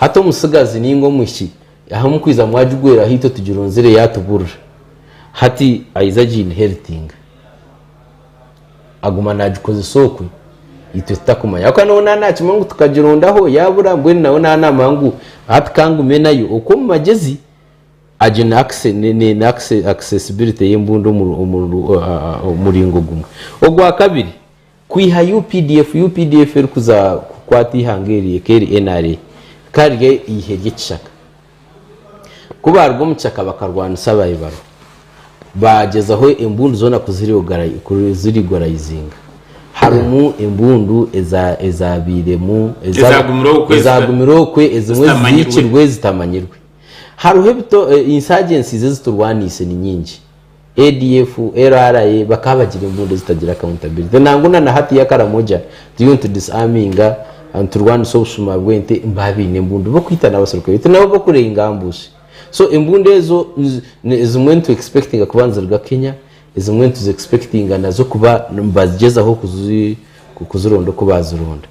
hati omutsigazi nainga omwishiki aha mukwiza mwagigweraho itwe tugirunzire yaatuburira hati aija agi inheritinga aguma nagikozesa okwe itwe tutakumanya ahakuba nawe naaba nakimanya ngu tukagirondaho yaabura mbwenu nawe naaba naamanya ngu hati ka ngume nayo okwo omu magyezi agyo ni acce- ni- ni- ni acce- accessibility y'embundu omu- omu- o- a- a- omuringo gumwe ogwakabiri kwiha updf updf erikuza kukwata eihanga eri eka eri nra ka ryo eihe ry'ekishaka Ku baaruga omu kishaka bakarwanisa abaibaru, baagyezaho embundu zoona kuziriguraizinga. Harimu embundu ezaabairemu, ezaagumire okwe, ezimwe ezizihiikirwe ezitamanyirwe. Hariho ensi Agyensiize eziturwaniise ni nyingi. ADF, LRA bakaba bagira embundu ezitagira accountability nangu na na hati ya Karamoja turiyo nitu disarminga ah, niturwanisa obushuma bw'ente nibaba baine embundu bokwita n'abaserukare baitu nabo bokurenga ambushi so embundu ezo nizi- ni- ezimwe nitu expectinga kuba niziruga Kenya ezimwe nituzi expectinga nazo kuba nibagyezaho kuzi kuzironda oku bazironda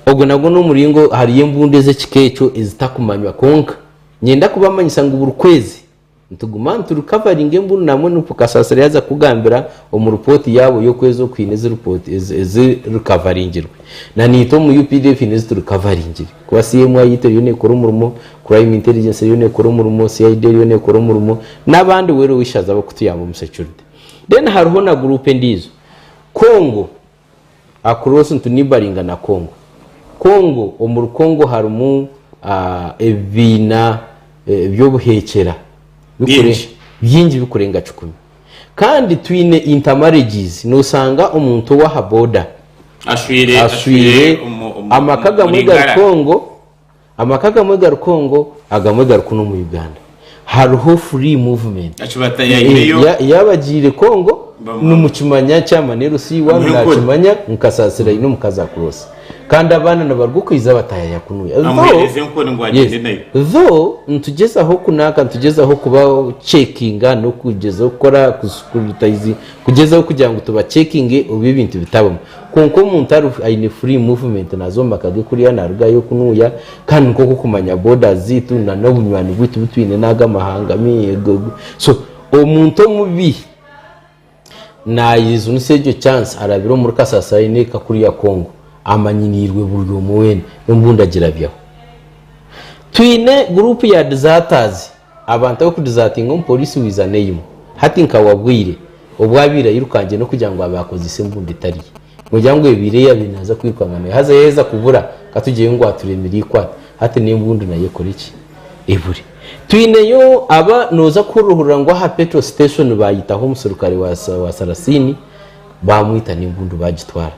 ogwo nagwo n'omuringo hariyo embundu ez'ekika ekyo ezitakumanywa kwonka nyenda kubamanyisa ngu buri kwezi Nituguma niturikavaringa engunu nambwenu Nup kasasiro yaaza kukugambira omu ripooti yaabo y'okwezi oku haine ezi ripooti ezirikavaringirwe. Naniitwe omu updf haine eziturikavaringire kuba CMI yitu eriyo neekora omurimo, Crime Intelligence eriyo neekora omurimo, CID eriyo neekora omurimo n'abandi weena ow'eishaza abarikutuyamba omu security. Then hariho na group endiijo, Congo, Across ntu neighbouringa na Congo. Congo omuri Congo harimu ebibiina by'obuheekyera bingi bikurenga kikumi. Kandi twine intermarriages noosanga omuntu ow'aha boda ashweire, amaka agamwe gari Congo, Amaka agamwe gari Congo agamwe gari kunu omu Uganda. Hariho free movement. Eki batayaireyo. Eeh, yaaba agiire Congo nimukimanya kyamani LC waanu naakimanya ngu Kasaasiro aine omukazi across. Kandi abaana nibaruga okwija batayaya kunu. Amuheereze enkoni ngu agyende nayo. Though nitugyezaho kunaaka nitugyezaho kuba checkinga n'okugyezaho kukora ku scrutizing kugyezaho kugira ngu tubachekinge obu ebintu bitabamu. Kwonka omuntu ariho aine free movement naza omu maka ge kuriya narugayo kunuya kandi nikwo kwokumanya borders zaitu na nobunywani bwitu butwine nago amahanga so omuntu omubi na usinisa egyo chance arabire omuri kasasiro aine eka kuriya Congo amanyineirwe buri omwe wena, nyowe mbu ndagirabyaho. Twine group ya deserters Abantu ab'okudizatinga omupoliisi wiiza n'eimwe. Hati nka wagwire, obu abaire ayirukangire n'okugira ngu abe akozesa embundu etari ye. Nogira ngu ebaire eyaabaire naaza kwirukanga nayo haza yaaheza kubura, ka tugyeyo ngu aturemire eikwate. Hati n'embundu nayo ekore ki? Ebure. Twineyo aba nooza kuhururahurira ngu aha petro station baayitaho omuserukare wa sarasiini, baamwita n'embundu baagitwara.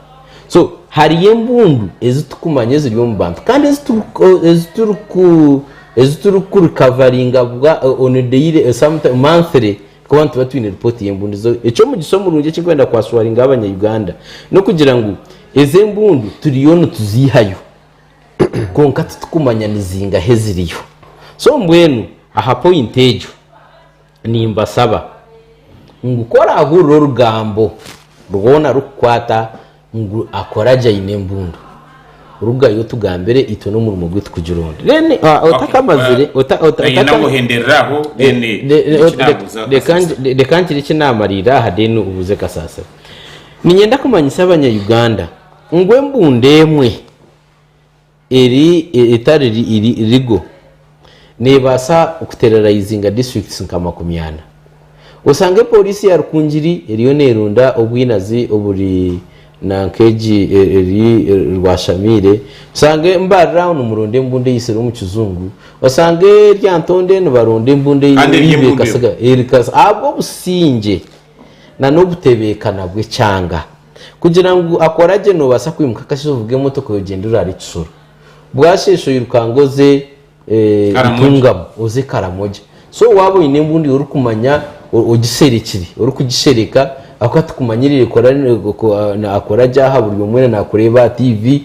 So hariyo embundu ezi tukumanya eziri omu bantu kandi ezi turi ezi turi ku ezi turi ku recoveringa bwa on a daily eh, sometime monthly kuba nituba twine report y'embundu zo eky'omugisha omurungi ekirikwenda kwaswaringa abanya-Uganda n'okugira ngu ezi embundu turiyo nituziihayo kwonka titukumanya nizingahe eziriyo so mbwenu aha point egyo Nimbasaba ngu ku oraahurira orugambo rwona rukukwata ngu akoragye aine embundu, rugayo otugambire itwe n'omurimo gwitu kugira ondi. Then ah, otakamazire, Okay, ota- ota- Kanyine otaka- kuhenderera aho then Ne- ne- niki o- reka- naabuuza reka kasasiro. ngi- reka ngire eki naamariirira aha then obuuze kasaasiro niinyenda kumanyisa abanyayuganda ngu embundu emwe eri etari legal nebaasa kuterrorizinga districts nka makumi ana. Osange Poliisi ya Rukungiri eriyo nerunda obwinazi oburi nanka egi eri Rwashamiire, osange Mbarira nimurunda embunda eyitsire omu kizungu, osange Lyantonde nibarunda embunda eyibeekasiga ahabw'obusingye nana obutebeekana bw'ekyanga. Kugira ngu akora gye noobaasa kwimuka akasheeshe ovuga emotoka oyogyendera ahari Kisoro. Bwasheesha oirukanga oze Ntungamo oze Karamoja. So waaba oine embundu yawe orikumanya ogiserekire, orikugishereka ahakuba tikumanyiriire akora gye aha buri omwe nakureeba aha tiivi,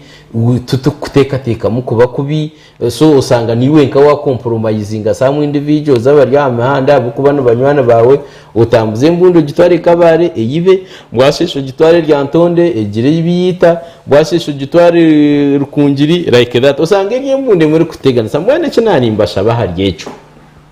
titikukuteekateekamu kuba kubi. So osanga naiwe nka wa compromisinga some individuals abari aha mihanda ahabw'okuba ni banywani baawe, otambuze embundu ogitware e Kabale eyibe, bwasheesha ogitware e Lyantonde egire ei biita, bwasheesha ogitware Rukungiri like that. Osanga eri embundu emwe erikuteganisa. Mbwenu eki naanimbashaba ahari ekyo,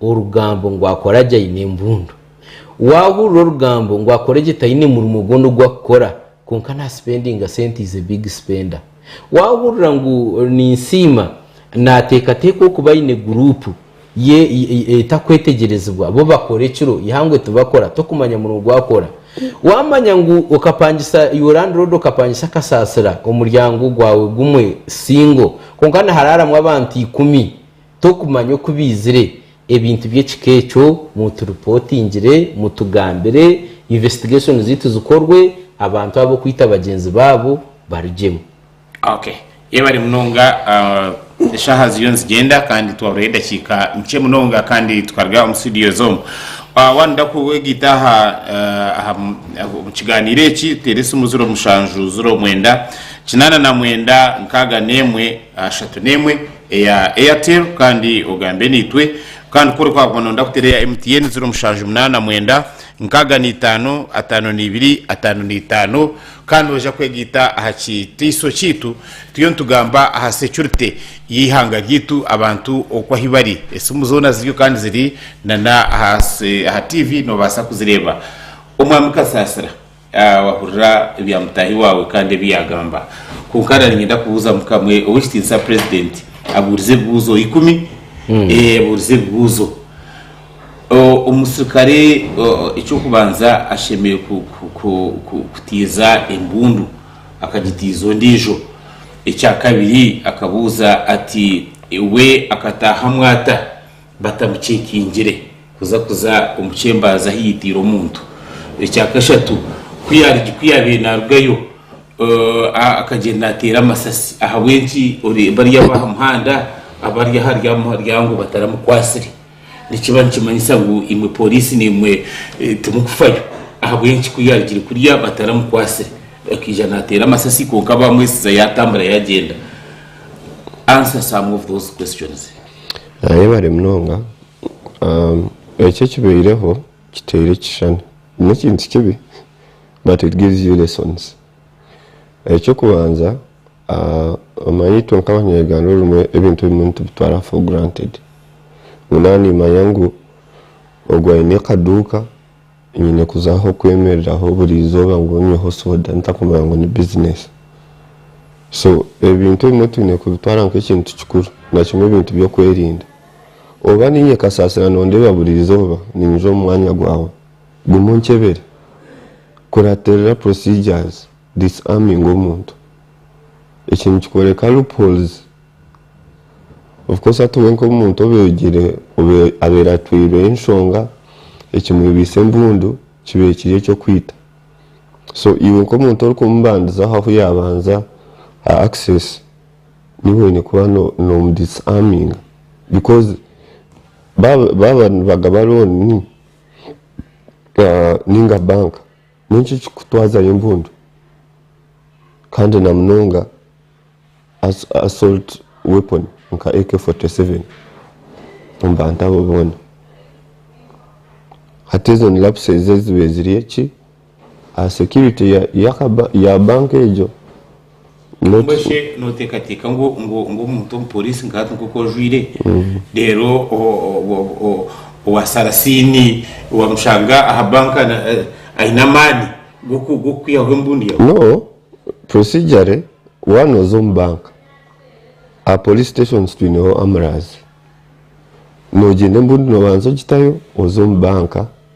Orugambo ngu akora gye aine embundu. Waahurira orugambo ngu akore gye taine murimo gwona ogu akukora kwonka naasipendinga sente is a big spender. Waahurira ngu Ninsiima naateekateeka okuba aine guruupu ye etakwetegyerezibwa bo bakora ekiro eihangwe tibakora tokumanya murimo ogu akora. Waamanya ngu okapangisa your landlord okapangisa akasaasira omuryango gwawe gumwe single kwonka niharaaramu abantu ikumi Tokumanya oku baizire ebintu by'ekika ekyo, muturipotingire, mutugambire, investigation zaitu zikorwe, abantu abo kwita bagyenzi baabo barugyemu. Ok, yebare munonga, eshaha ziriyo nizigyenda kandi twaburire edakiika nkye munonga kandi tukaruga omu studios omu. Wanoda kwegaita aha aha omu kiganiiro eki, teera esimu ziro mushanju, ziro mwenda, kinaana na mwenda, nkaaga n'emwe, ashatu n'emwe, eya Airtel kandi ogambe naitwe kandi ku orikuba noyenda kuteera eya MTN ziro mushanju munaana mwenda nkaaga naitaano ataano naibiri ataano naitaano kandi oija kwegaita aha kitiiso kyaitu turiyo nitugamba aha securite y'eihanga ryaitu abantu oku ahi bari esimu zoona ziriyo kandi ziri nana aha TV nobaasa kuzireeba Omwami Kasaasira. Wahurira ebya mutaahi waawe kandi ebi yaagamba. Kwonka nda niinyenda kubuuzamu kamwe. Ow'ekitiinisa Purezidenti abuurize ebibuuzo ikumi. Abuurize ebibuuzo. Omusirikare eky'okubanza ashemereire kutiiza embundu akagitiiza ondiijo. Ekyakabiri akabuuza ati, We akataahamu ata? batamuceekingire kuza kuza omu kyembaazi ahu yaitaire omuntu. Ekya kashatu, ku yaari ku yaabaire naarugayo akagyenda naateera amasasi ahabw'enki bari abo aha muhanda abari ahari aha muryango bataramukwatsire. Nikiba nikimanyisa ngu imwe pooriisi nimwe timukufayo ahabw'enki ku yaarugire kuriya bataramukwatsire akaija naateera amasasi kwonka baamwetsiza yaatambura yaagyenda. Answer some of those questions. Yebare munonga eki ekibaireho kiteire ekishushani nekintu kibi but it gives you lessons ekyokubanza omanya itwe nkabanyayuganda orundi ebintu ebimwe nitubitwara for granted ngu naba nimanya ngu ogu ayine akaduuka Nyine kuzaho kwemereraho buri izooba ngu nyweho soda ntakumanya ngu ni business. So ebintu ebimwe twine kubitwara nk'ekintu kikuru nakimwe ebintu by'okwerinda. Oba niinye kasasira nondeeba buri izooba ninyija omu mwanya gwawe guma onkyebere. Kuratirira procedures, disarming omuntu. Eki nikikworeka loopholes. Of course hati we nk'omuntu obegire abaire atwiirwe enshonga ekimwebaise embundu kibaire kiri ekyokwita so iwe nk'omuntu orikumubandizaho ahu yabanza ha access niiwe oyine kuba nomu disarminga because baaba nibagaba looni ninga bank N'enki ekikutwazayo empundu kandi na munonga assault weapon nka AK-47 omu bantu abo boona? Hati ezo ni lapses ezibaire ziri eki aha security ya banka egyo? Mbwenu shi nooteekateeka ngu omuntu omupooriisi nka hati nk'oku ojwaire, reero waasaara siini waamushanga aha banka aine amaani g'okukwihaho embundi yaawe? No, procedurally waaba nooza omu banka, aha police stations twineho amurazi, noogyenda embundi noobanza ogitayo oze omu banka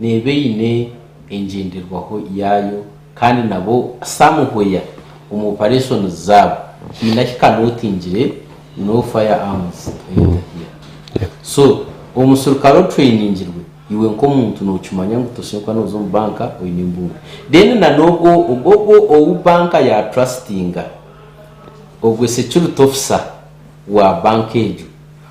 Neeba eine engyenderwaho yaayo kandi nabo kusamuhwea omu opareshonizi zaabo haine ahi ka nootingire no fire arms ey'omupiira. So omuserukare otureningirwe iwe nk'omuntu nookimanya ngu toshemeriire kuba nooza omu banka oine embundu. Then na n'ogwo ogwo ou banka ya trustinga ogwe security officer wa banka egyo.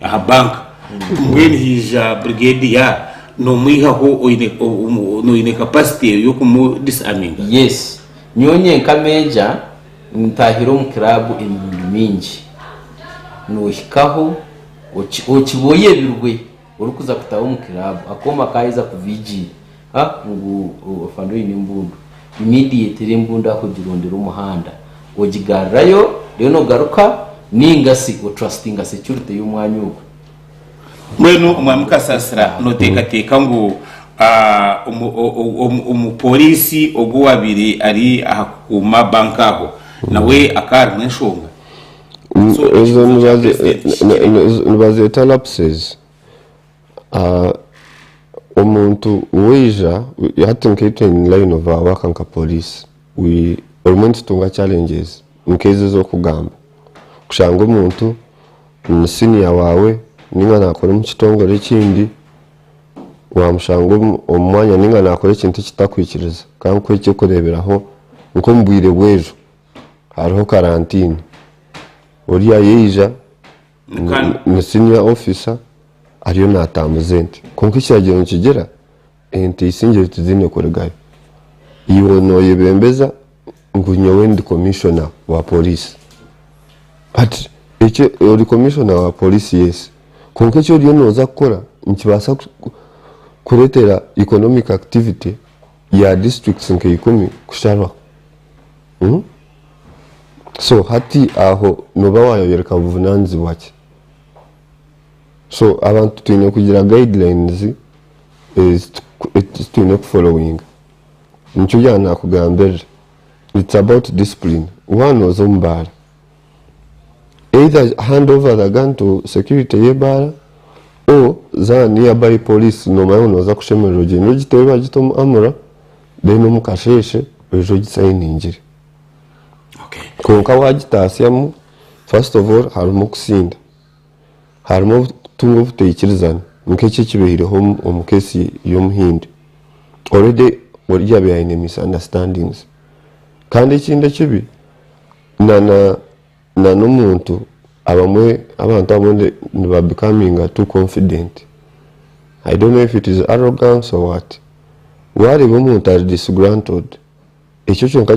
aha banka mbwenu haija brigade ya nomwihaho oyine oyine capacity eyo yokumu disarminga yes nyowe nyenka meja ntahire omu club emirundi mingi nohikaho okiboya ebirwe orikuza kutaho omu club akooma kayeza kuva igiiri Ha, ngu ofande oine embundu, immediately embundu aho ogirondera omuhanda, ogigarrayo, then ogaruka, ninga si otrustinga security y'omwanya ogwo. Mbwenu Omwami Kasasira noteekateeka ngu omu Poliisi ogu owaabaire ari aha kukuuma bank aho nawe akaba harimu enshonga? Ezo nibazeeta lapses. Omuntu waija, hati nkaitwe in line of our work nka police obumwe nitutunga challenges nkezo ezokugamba kushanga omuntu ni senior waawe ninga nakora omu kitongore ekindi wamushanga omu mwanya ninga nakora ekintu ekitakwikiriza kandi nkuha ekyokureberaho nkomu bwire bwejo hariho karantini oriya yaija Ni senior officer ariyo natambuza ente kwonka ekiragyiro nikigira ente isingire tiziine kurigayo iwe noyebembeza ngu nyowe ndi commissioner wa police but ekyo ori commissioner wa police yes kwonka eki oriyo noza kukora nikibaasa kuretera economic activity ya districts nka ikumi kusharwaho so hati aho noba wayoreka buvunanizibwa ki so abantu twine kugira guidelines ezitwine ku followinga nikyo byabaire nakugambirira it's about discipline waaba noza omu baara either hand over the gun to security y'ebaara or za near by police nomanya ngu noza kushemererwa ogyende ogiteebe bagite omu amura then omukasheeshe oije ogisainingire okay kwonka wagitaasyamu first of all harimu okusinda harimu okutunga obutaikirizana nk'eki ekibaireho omu case y'omuhindi already ori yaabaire aine misunderstandings kandi ekindi ekibi Na n'omuntu abamwe abantu abamwe ni ba becominga too confident I don't know if it is arrogance or what wareeba omuntu ari disgruntled ekyo kyonka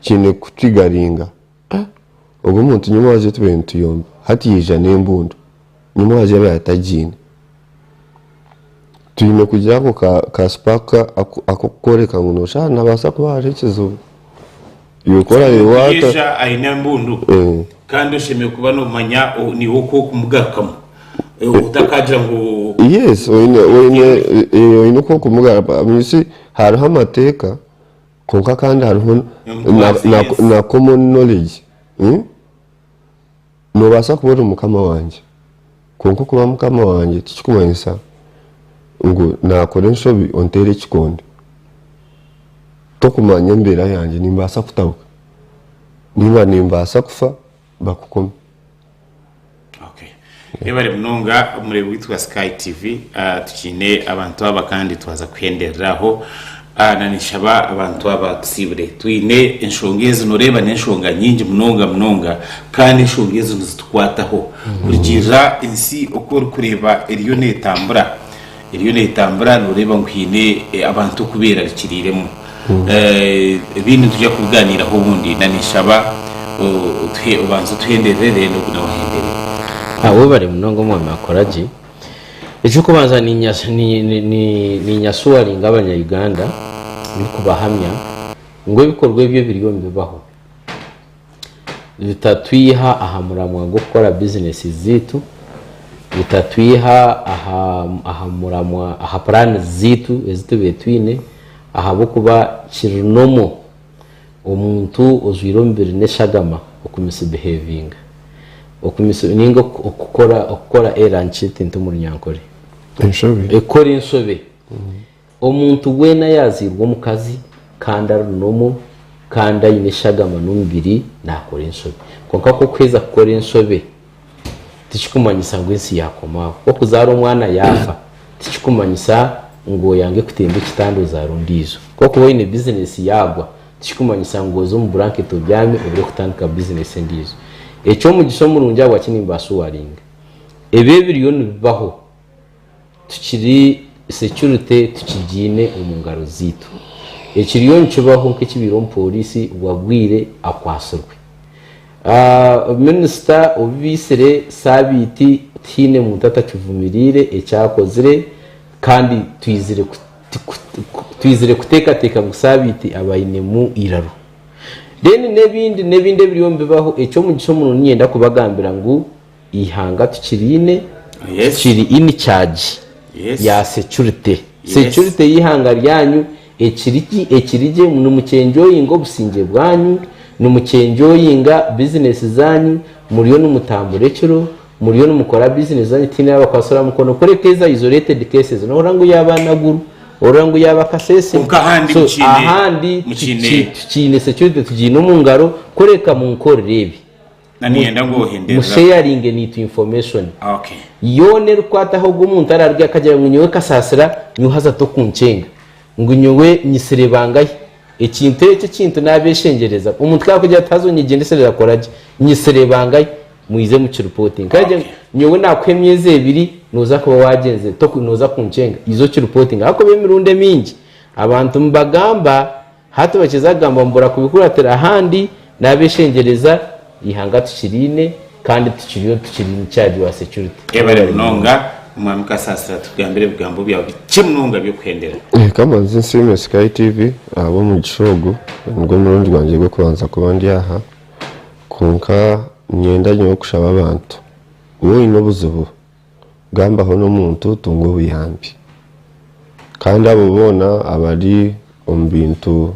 kiine ku trigeringa ogu omuntu nyowe waaza otubare nituyomba hati yaija n'embundu. Ni mwazyo abe atagiine. Twine kugira ako ka spark akokukworeka ngu noshaaha nabasa kuba hariho ekizibu. Iwe ku orareeba wata. Omugyesha aine embundu kandi oshemereire kuba nomanya niiwe oku okumugarukamu otakagira ngu. Yes oyine oku okumugarukamu you see hariho amateeka kwonka kandi hariho na common knowledge. Noobaasa kuba ori mukama wangye, kwonka okuba mukama wangye tikirikumanyisa ngu naakora enshobi onteere ekikondo. Tokumanya embeera yangye, nimbaasa kutabuka nainga nimbaasa kufa bakukome. Yebare munonga omureebi waitu wa Sky TV. Tukyaine abantu aba kandi twaza kuhenderera aho. Ana, Ninshaba abantu aba tusiibure. Twine enshonga ezi, nooreeba n'enshonga nyingi munonga munonga, kandi enshonga ezi nizitukwataho. Kurugiirira ensi oku orikureeba eriyo neetambura, eriyo neetambura nooreeba ngu haine abantu okubeerarikiriiremu. Ebindi nitwija kubigaaniiraho obundi. Na, ninshaba otuhe, obanze otuhenderere reero naiwe nawe ohenderere. Abe obare munonga Omwami akora gye. Eky'okubanza niinyasuwaringa Abanya-Uganda ndikubahamya ngu ebikorwa ebi ebiriyo nibibaho bitatwiha aha muramwa gw'okukora bizineesi zaitu, bitatwiha aha muramwa, aha puraani zaitu ezi tubaire twine ahabw'okuba kiri nomu Omuntu ojwaire omubiri n'eshagama okumisbihevinga okumis ninga okukora okukora era nki tintu omu runyankore Enshobe. ekukora enshobe Omuntu weena yaazairwe omukazi kandi ari nomu kandi aine eshagama n'omubiri naakora enshobe. Kwonka ku okuheza kukora enshobe, tikikumanyisa ngu ensi yaakoma aho. Ku okuzaara omwana yaafa, tikikumanyisa ngu oyange kutemba ekitanda ozaare ondiijo. Ku okuba oine bizineesi yaagwa, tikikumanyisa ngu oze omu buranketi obyame obure kutandika bizineesi endiijo. Eky'omugisha omurungi ahabwaki nimbaashuwaringa? Ebi ebiriyo nibibaho. Tukiri securite tukigiine omu ngaro zaitu. Ekiriyo nikibaho nk'ekibaire omu pooriisi wagwire akwatsirwe. Minisita obu baitsire saabiiti tihaine muntu atakivumiriire ekyakozire kandi twizire kuteekateeka ngu saabiiti aba ainemu eiraro. Then n'ebindi n'ebindi ebiriyo nibibaho, eky'omugisha omuno niinyenda kubagambira ngu, Eihanga tukiriine kiri in charge ya security. Security y'eihanga ryanyu ekiri ki? Ekiri gye. Nimukyenjoyinga obusingye bwanyu, nimukyenjoyinga bizinesi zanyu, muriyo nimutambura ekiro, muriyo nimukora bizinesi zanyu tihaine arabakwatsiraho mukono kureka ezi isolated cases nohurira ngu yaaba Naguru, ohurira ngu yaaba Kasese. So ahandi tukiine security tugiine omu ngaro kureka munkorire ebi. Na niyenda ngu ohenderere abo. Musheyaringe naitu information Okay. yoona erikwataho ogu omuntu ararugye akagira ngu nyowe Kasasira nyowe haza tokunkyenga ngu nyowe nyitsire bangahi. Ekintu ekyo ekintu nabeshengyereza. Omuntu ku arakugira ati haza onyegyendeserera kora gye, nyitsire bangahi, muize mu ki reportinge. Ku aragira ngu Okay. nyowe nakuha emyezi ebiri noza kuba wagyenze, toku noza kunkyenga, iza oki reportinge. Ahakuba emirundi emingi abantu nibagamba Hati bakiza kugamba ngu burakubikuratira ahandi n'abeshengyereza, eihanga tukiriine kandi tukiriyo tukiri in charge wa security. Yebare munonga omwami kasasira tugambire ebigambo byawe bikye munonga byokuhendera. Reka mbanze nsiime Sky TV ahabw'omugisha ogu. Nigwo murundi gwangye gw'okubanza kuba ndi aha. Kwonka niinyenda nyowe kushaba abantu, waaba oine obuzibu Gambaho n'omuntu otunga obuyambi. Kandi abo boona abari omu bintu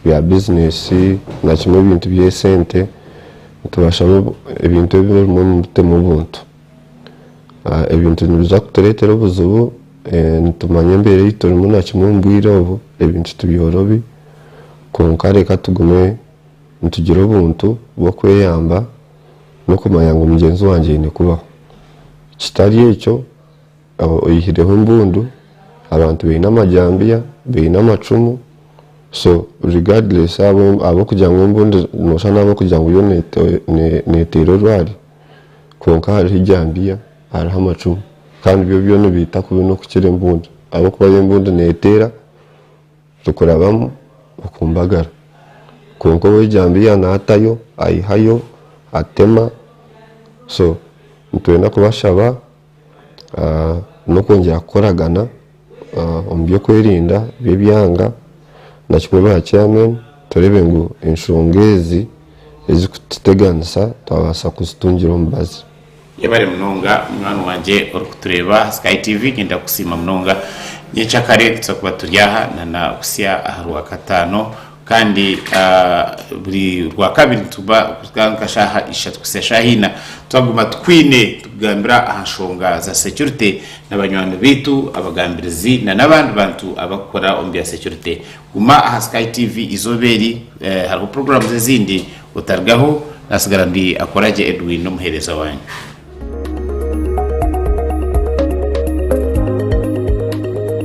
bya bizineesi na kimwe ebintu by'esente nitubashamu ebintu ebi ebimwe mubitemu obuntu. Ebintu nibiza kutureetera obuzibu, nitumanya embeera ei turimu na kimwe omu bwire obu ebintu tibyorobi kwonka reka tugume nitugire obuntu bw'okweyamba. n'okumanya ngu mugyenzi wangye aine kubaho. Kitari ekyo, aba oyihireho embundu, abantu baine amajambiya, baine amacumu, so regardless abo ab'okugira ngu embundu noshusha n'ab'okugira ngu yo neteera orwari kwonka hariho ejambiya, hariho amacumu kandi byo byo nibiita kubi n'okukira embundu ahabw'okuba yo embundu neteera. Tikurabamu bukumbagara. Kwonka ow'ejambiya naatayo, aihayo, atema. So nitwenda kubashaba n'okwongyera kukoragana omu by'okwerinda by'ebyanga naki kuba aha chairman tureebe ngu enshonga ezi ezikututeganisa twabaasa kuzitungira omubazi. Yebare munonga munywani wangye orikutureeba aha Sky TV. Ngenda kukusiima munonga. Nyenkya kare nituza kuba turi aha na na butsya aha Rwakataano. Kandi buri Rwakabiri nituba kuruga nka shaaha ishatu kuhitsya shaaha ina twaguma tukwine tukugambira aha nshonga za securite na banywani baitu, abagambirizi na n'abandi bantu abarikukora omu bya securite. Guma aha Sky TV izooba eri hariho programs ezindi. Otarugaho, nasigara ndi akora gye Edwin n'omuheereza wanyu.